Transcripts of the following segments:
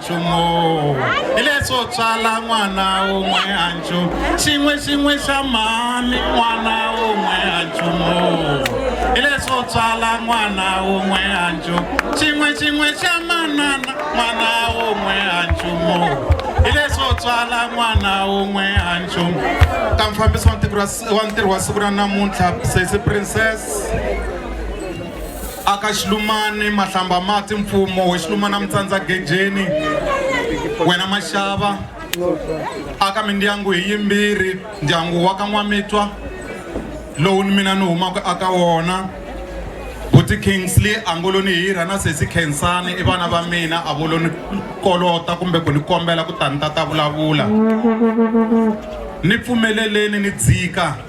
nchumu hi leswo tswala n'wana wun'we a nchumu xin'we xin'we xa mhani n'wana wun'we a nchumu hi leswo tswala n'wana wun'we a nchumu xin'we xin'we xa manana n'wana wun'we a nchumu hi leswo tswala n'wana wun'we a nchumu ta mfambisi wa ntirho wa siku ra namuntlha sesi princess aka xilumani mahlamba mati mfumo we xilumana mitsandza gejeni wena maxava aka mindyangu hi yimbirhi ndyangu wa ka n'wamitwa lowu ni mina ni humaka aka wona buti kingsley angoloni hirha na sesi khensani i vana va mina a voloni kolota kumbe ku ni kombela ku ta ni ta ta vulavula ni pfumeleleni ni dzika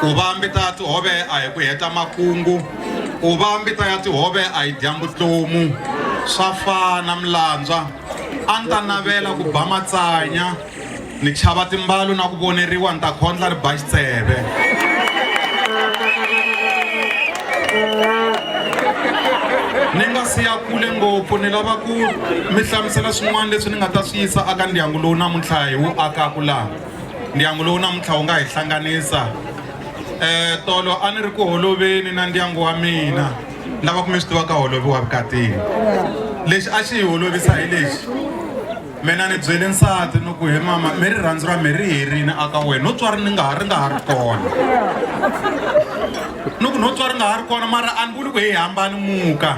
ku va mbita ya tihove a hi ku heta makungu ku va mbita ya tihove a hi dyambu tlomu swa fana milandzwa a ni ta navela ku ba matsanya ni chava timbalu na ku voneriwa ni ta khondla ri ba xitseve ni nga siya kule ngopfu ni lava ku mi hlamusela swin'wana leswi ni nga ta swi yisa aka ndyangu lowu namuntlha hi wu akaku laha ndyangu lowu namuntlha wu nga hi hlanganisa um tolo a ni ri ku holoveni na ndyangu wa mina lava ku mi swi tivaka holovi wa vukatini lexi a xi hi holovisa hi lexi mina ni byele nsati ni ku he mama mi rirhandzu ra mi ri herini aka wena no tswari ni nga ha ri nga ha ri kona ni ku no tswari nga ha ri kona mara a ni vuli ku hi hambani muka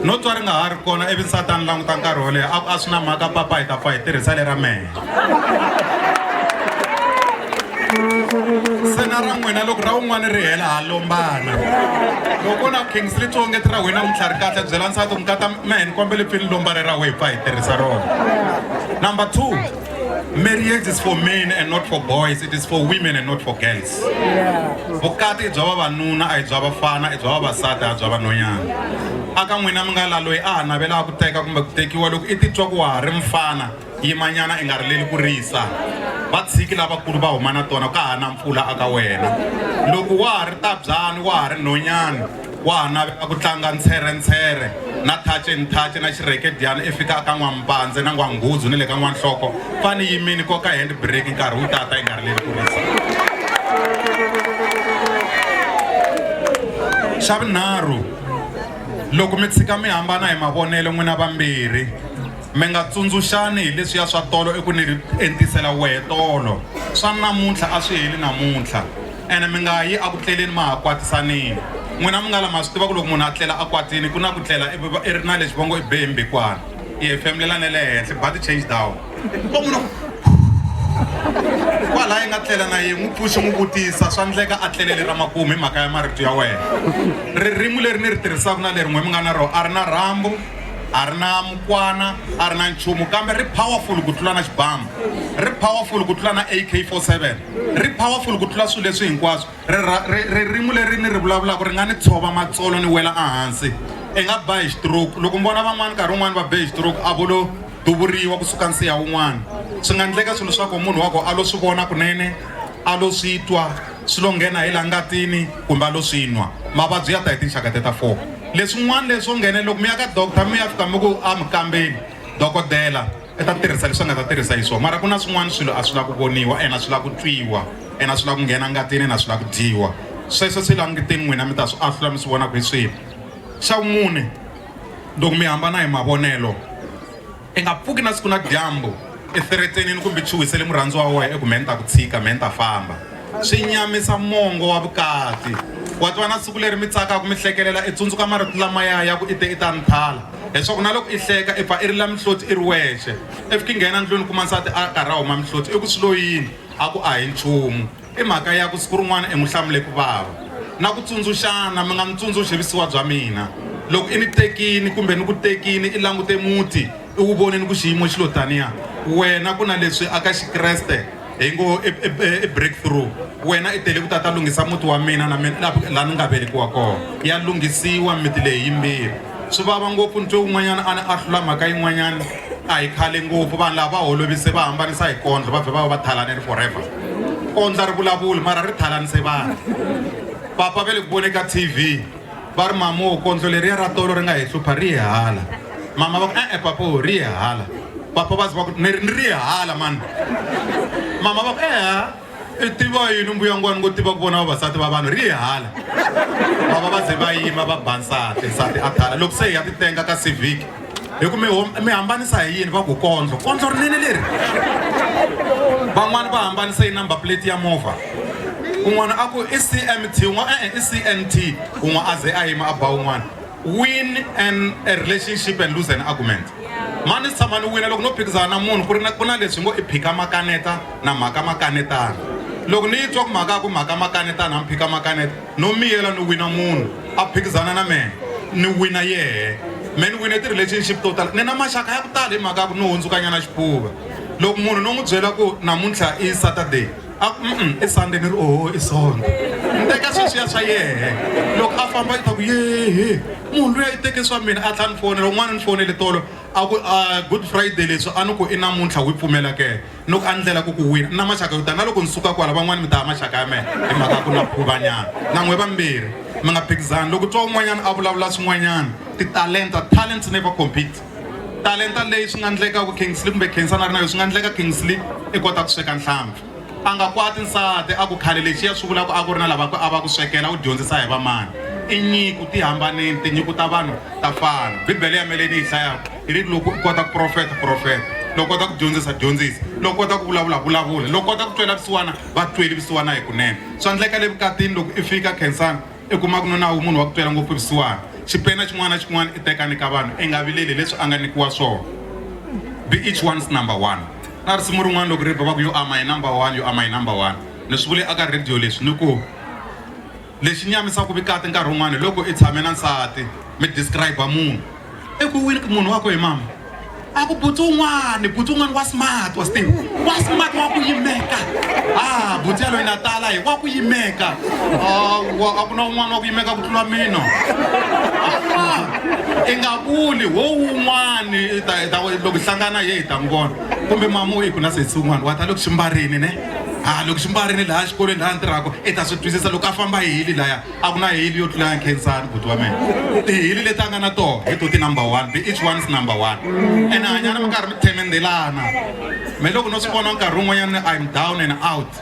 no tswari nga ha ri kona ivi nsati a ni languta nkarhi wo leha a ku a swi na mhaka papa hi ta pfa hi tirhisa le ra mehe se na ra n'wina loko ra un'wana ri hela ha lombana loko na kingstreet wo ngeti ra wena untlha ri kahle byela nsati ku nkata mehe ni kombele pfi ni lomba ri ra wehe pfa hi tirhisa rona number two marriage is for men and not for boys it is for women and not for girls vukati i bya vavanuna a hi bya vafana i bya vavasati a bya vanhonyana aka n'wina mi nga la loyi a ha navelaka ku teka kumbe ku tekiwa loko i titwa ku wa ha ri mfana Yimanyana i nga rileli ku risa, va tshiki lavakulu va huma na tona, ka ha na mpfula aka wena. Loko wa ha ri tabyani, wa ha ri nhonyani, wa ha navela ku tlanga ntshwere-ntshwere na thace-nthace na xirhekedyana i fika aka n'wampandze na n'wanghuzu ni le ka n'wanhloko, pfa ni yimini koka hand brake nkarhi wu tata i nga rileli ku risa. Xa vunharhu, loko mi tshika mi hambana hi mavonelo n'wina vambirhi, Mi nga tsundzuxani hi leswiya swa tolo i ku ni ri entisela wehe tolo, swa namuntlha a swi heli namuntlha. Ene mi nga yi eku tleleni ma ha kwatisanile. N'wina mi nga la ma swi tiva ku loko munhu a tlela a kwatile ku na ku tlela i i ri na lexi va ngo i be hi mbhikwana, i hefemulela na le henhla, i ba ti-change down. Loko munhu a ku khuu kwalaya i nga tlela na yehe, n'wi pfuxi n'wi vutisa, swa ndleka a tlele le ra makumu hi mhaka ya marito ya wehe. Ririmi leri ni ri tirhisaka na leri n'we mi nga na rona a ri na rhambu, a ri na mukwana a ri na nchumu kambe ri powerful ku tlula na xibamu ri powerful ku tlula na ak47 ri powerful ku tlula swilo leswi hinkwaswo ririmi leri ni ri vulavulaka ri nga ni tshova matsolo ni wela ehansi i nga ba hi xitroke loko mi vona van'wana nkarhi wun'wani va be hi xitroke a vo lo duvuriwa kusuka nsiya wun'wana swi nga endleka swilo swa ku munhu wa ko a lo swi vona kunene a lo swi twa swi lo nghena hi la ngatini kumbe a lo swi nwa mavabyi ya ta hi tinxaka te ta four leswin'wana leswo nghene loko mi ya ka doctor mi ya fika mi ku a mi kambeni dokodela i ta tirhisa leswi a nga ta tirhisa hi swona mara ku na swin'wana swilo a swi lava ku voniwa ena swi lava ku twiwa ena swi lava ku nghena ngatini na swi lava ku dyiwa sweswo swi languteni n'wina mi ta swi ahlula mi swi vona ku hi swihi xa vumune loko mi hambana hi mavonelo I nga pfuki na siku na dyambu eferetsenini kumbe chuhisele murhandziwa wa wena eku me ni ta ku tshika me ni ta famba swi nyamisa mongo wa vukati wa twa na siku leri mi tsakaka mi hlekelela i tsundzuka marito lamaya ya ku i te i ta ni thala leswaku na loko i hleka i pfa i ri la mihloti i ri wexe i fiki nghena ndlwini kuma nsati a karhi a huma mihloti i ku swi lo yini a ku a hi nchumu I mhaka ya ku siku rin'wana i n'wi hlamule ku vava na ku tsundzuxana, mi nga ni tsundzuxi visiwa bya mina. Loko i ni tekini kumbe ni ku tekini i langute muti i wu vonini ku xiyimo xi lo taniya, wena ku na leswi a ka Xikreste hi ngo i breakthrough. Wena i tele ku ta ta lunghisa muti wa mina na mina laha ni nga velekiwa kona. Ya lunghisiwa mimiti leyi yimbirhi. Swi vava ngopfu ni twe un'wanyana a ni ahlula mhaka yin'wanyana. a hi khale ngopfu vanhu lava va holovise va hambanisa hi kondlo va vhe va va va thalaneni forever kondla ri vulavuli mara ri thalanise vanhu papa ve le ku vone ka tv va ri mama wo kondlo leriya ra tolo ri nga hi hlupha ri yehala mama va ku e-e papa wo ri yehala papa va zi va ku ni ri yehala mani mama va ku eha i tiva yini mbuyangwani ngo tiva ku vona vavasati va vanhu ri ye hala vava va ze va yima va ba nsati nsati a thala loko se hi ya ti tenga ka civic hi ku mi hambanisa hi yini va ku kondlo kondlo rinene leri van'wani va hambanisa yi number plate ya movha un'wana a ku i cmt un'wana e-e i cnt un'wa a ze a yima a ba un'wana win an a relationship and lose an argument mani tshama ni wina loko no phikizana na munhu ku ri na ku na leswi ngo i phika makaneta na mhaka makanetana. Loko ni yi twa ku mhaka ya ku mhaka makanetana mi phika makaneta, no miyela ni wina munhu a phikizana na mehe, ni wina yehe. Mehe ni wine ti-relationship to tala, ni na maxaka ya ku tala hi mhaka ya ku ni hundzukanyana xifuva. Loko munhu no n'wi byela ku namuntlha i Saturday, a ku mm-mm i Sunday ni ri oho i Sonto. Ni teka sweswiya swa yehe, loko a famba i ta ku yehe munhu luya i teke swa mina a tlha ni fonela. Un'wana ni fonele tolo a ku a Good Friday leswi a ni ku i namuntlha wi pfumela ke. ni ku andlela ku ku wina na maxaka yo tala na loko ni suka kwala van'wani mi ta ya maxaka ya mehe hi mhaka ya ku na khuvanyana na n'we vambirhi mi nga phikizani loko twa un'wanyana a vulavula swin'wanyana titalenta talents never compete talenta leyi swi nga ndleka ku kingsley kumbe khensa na ri na yo swi nga ndleka kingsley i kota ku sweka nhlampfi a nga kwati nsati a ku khale lexiya swi vulaka a ku ri na lava a va ku swekela u dyondzisa hi vamani i nyiko ti hambanile tinyiko ta vanhu ta fana bibele ya meleni yi hlaya hi ri loko u kota ku profeta profeta loko kota ku dyondzisa dyondzisa loko kota ku vulavula vulavula loko kota ku twela vusiwana va tweli vusiwana hi kunene swa ndleka le vukatini loko i fika khensani i kuma ku nuna wu munhu wa ku twela ngopfu vusiwana xipena xin'wana na xin'wana i tekani ka vanhu i nga vileli leswi a nga nikiwa swona be each one's number one na risimu rin'wana loko ri ba va ku yo ama hi number one yo ama hi number one ni swi vule aka radio leswi ni ku Lexi nyamisaka vikati nkarhi wun'wana hi loko i tshame na nsati mi describe munhu i ku wini munhu wa ku hi mama a ku butsu un'wana butsu un'wana wa smart wa steve wa smart wa ku yimeka a butsu yaloyi na tala hi wa ku yimeka a ku na un'wana wa ku yimeka ku tlula mina i nga vuli wo wun'wani loko hi hlangana ye hi ta n'wi vona kumbe mama u yi ku na sesi un'wana wa ta le ku xi mbarini ne ha loko xi mbarile laha xikolweni laha ni tirhaka i ta swi twisisa loko a famba hi hili laya a ku na hili yo tlula ya khensani buti wa mina tihili leti a nga na toho hi to ti number one be each one is number one ene hanyana mi karhi mi themendelana me loko no swi vona nkarhi wun'wanyana im down and out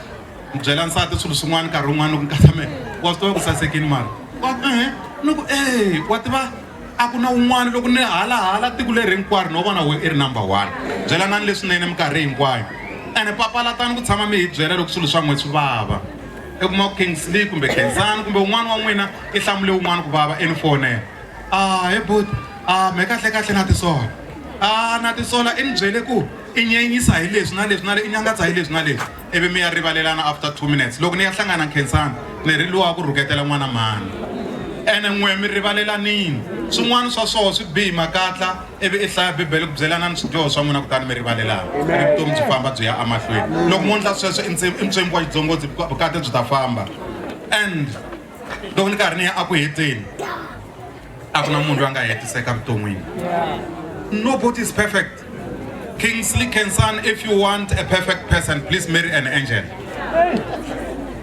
mi byela nsati swilo swin'wana nkarhi wun'wana loko nkatha me wa swi tiva ku sasekini mara wa ehe ni ku e wa tiva a ku na un'wana loko ni hala hala tiko leri hinkwaro no vona we i ri number one byelanani leswinene minkarhi hinkwayo ene papalatani ku tshama mi hi byela loko swilo swa n'we swi vava i kuma ku kingsley kumbe khensani kumbe un'wana wa n'wina i hlamule un'wana ku vava eni fonela a he but a me kahle kahle na tisola a na tisola i ni byele ku i nyenyisa hi leswi na leswi na le i nyangatsa hi leswi na leswi ivi mi ya rivalelana after two minutes loko ni ya hlangana nkhensani ni ri luwa ku rhuketela n'wana mhani ene n'we mi rivalelanini swin'wana swa swoho swi bihi makatla ivi i hlaya bibele ku byelanani swidyoho swa n'wina kutani mi rivalelana ivi vutomi byi famba byi ya emahlweni loko mo ndla sweswo i ntswembi wa xidzongotsi vukati byi ta famba and loko ni karhi ni ya eku heteni a ku na munhu loyi a nga hetiseka vuton'wini nobody is perfect kingsley kensan if you want a perfect person please marry an angel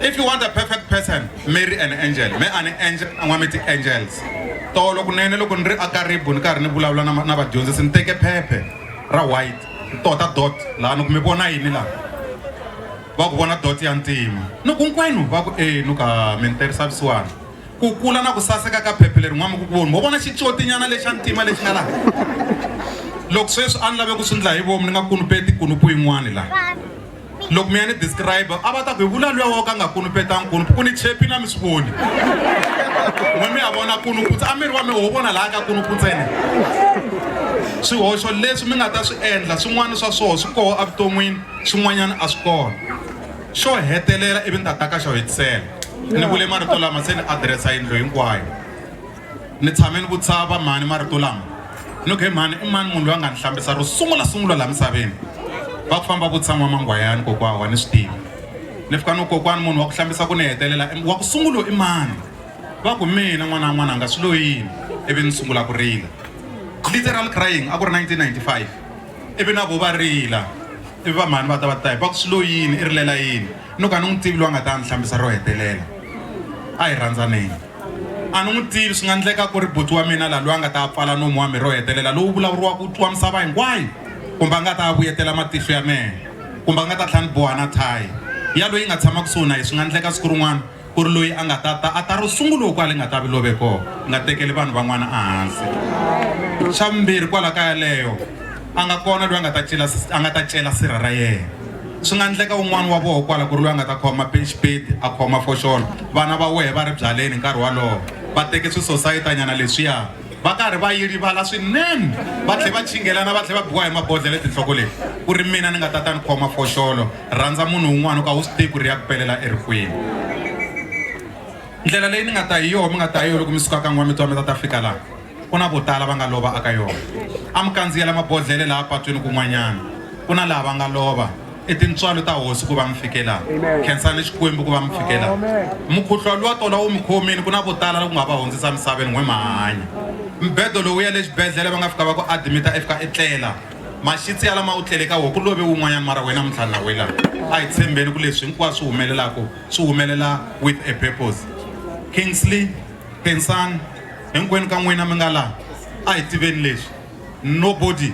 if you want a perfect person marry an angel me ani angel an'wa mi ti-angels tolo kunene loko ni ri akaribu ni karhi ni vulavula na na vadyondzisi ni teke phephe ra white tota dot laha ni ku mi vona yini laha va ku vona dot ya ntima ni ku hinkwenu va ku e ni ka mi ni tirhisa vusiwana Ku kula na ku saseka ka phephe leri n'wamukukuvoni. Mo vona xicotinyana lexa ntima lexi nga laha? Loko sweswi a ni lave ku swi ndla hi vomu ni nga kunupeti kunupu yin'wani laha. Loko mi ya ni describer a va ta ku hi vula luya wo ka a nga kunupetanga kunupu ku ni chepi na mi swi voni. N'we mi ya vona kunupu ntsena, a miri wa mehe wo vona laya ka kunupu ntsena. Swihoxo leswi mi nga ta swi endla swin'wana swa swoho swi koho a vuton'wini swin'wanyana a swi kona. Xo hetelela ivi ni ta taka xo hetisela ni vule marito lama se ni adiresa yindlo hinkwayo ni tshame ni vutisa va mhani marito lama ni ku he mhani i mani munhu loyi a nga ni hlambisa ro sungula sungula laha misaveni va ku famba vutisa n'wamangwayani kokwana wa ni swi tiva ni fika no kokwana munhu wa ku hlambisa ku ni hetelela wa ku sungulo i mani va ku mina n'wana wa n'wananga swi lo yini ivi ni sungula ku rila literal crying a ku ri 1995 ivi na ku va rila ivi va mhani va ta va ta hi va ku swi lo yini i rilela yini ni ku a ni n'wi tivi loyi a nga ta ni hlambisa ro hetelela a hi rhandzaneni a ni n'wi tivi swi nga endleka ku ri buti wa mina laha loyi a nga ta pfala nomu wa mi ro hetelela lowu vulavuriwaka ku twa misava hinkwayo kumbe a nga ta vuyetela matihlo ya mehe kumbe a nga ta tlhela ni boha na thayi ya loyi nga tshama kusuhi na yi swi nga endleka siku rin'wana ku ri loyi a nga ta ta a ta ro sunguloko kwale nga ta vi love kona nga tekeli vanhu van'wana ehansi xa vumbirhi kwala ka yaleyo a nga kona loyi a nga ta cela a nga ta cela sirha ra yena swi nga endleka un'wana wa voho kwala ku ri loyi a nga ta khoma pexipeti a khoma foxolo vana va wehe va ri byaleni nkarhi walowo va teke swisosayitanyana leswiya va karhi va yi rivala swinene va tlhe va chingelana va tlhe va biwa hi mabodlhela etinhloko leti ku ri mina ni nga ta ta ni khoma foxolo rhandza munhu un'wana u ka wu swi tivi ku ri ya ku pelela erikwini ndlela leyi ni nga ta hi yoho mi nga ta hi yo loko mi suka ka n'wa mi twa mi ta ta fika laha ku na vo tala va nga lova aka yona a mi kandziyela mabodlhele laha patwini kun'wanyana ku na laha va nga lova i tintswalo ta hosi ku va mi fikela khensani xikwembu ku va mi fikela mukhuhlo luwa tola wu mi khomini ku na vo tala ku nga va hundzisa misaveni n'we mahanya mbedo lowu ya le xibedhlele va nga fika va ku adimita i fika i tlela maxitsi ya lama u tlele ka wo ku love wun'wanyana mara wena mintlhanu na wela a hi tshembeni ku leswi hinkwaswo swi humelelaka swi humelela with a purpose kingsley khensani hinkwenu ka n'wina mi nga laha a hi tiveni leswi nobody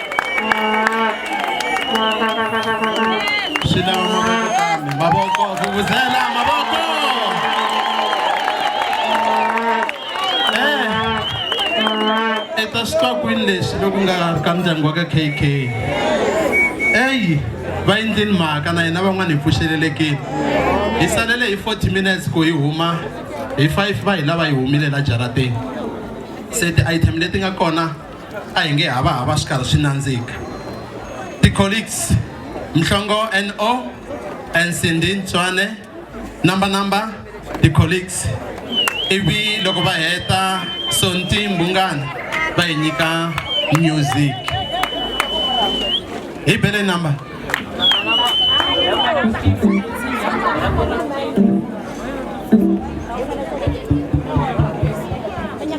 swi lava mavoko kambe mavoko vuvuzela mavoko e ta swi twa kwini leswi loku nga ka ndyangu wa ka kk eyi va endleni mhaka na hina van'wana hi pfuxelelekile hi salele hi 40 minutes ku hi huma hi 5 va hi lava hi humile la jarateni se ti-item leti nga kona a hi nge hava hava swi karhi swi nandzika ti-colleagues mhlongo no and cindy ntswane number number ti-colleagues ivi loko va heta sonti mbungana va hi nyika music hi bele number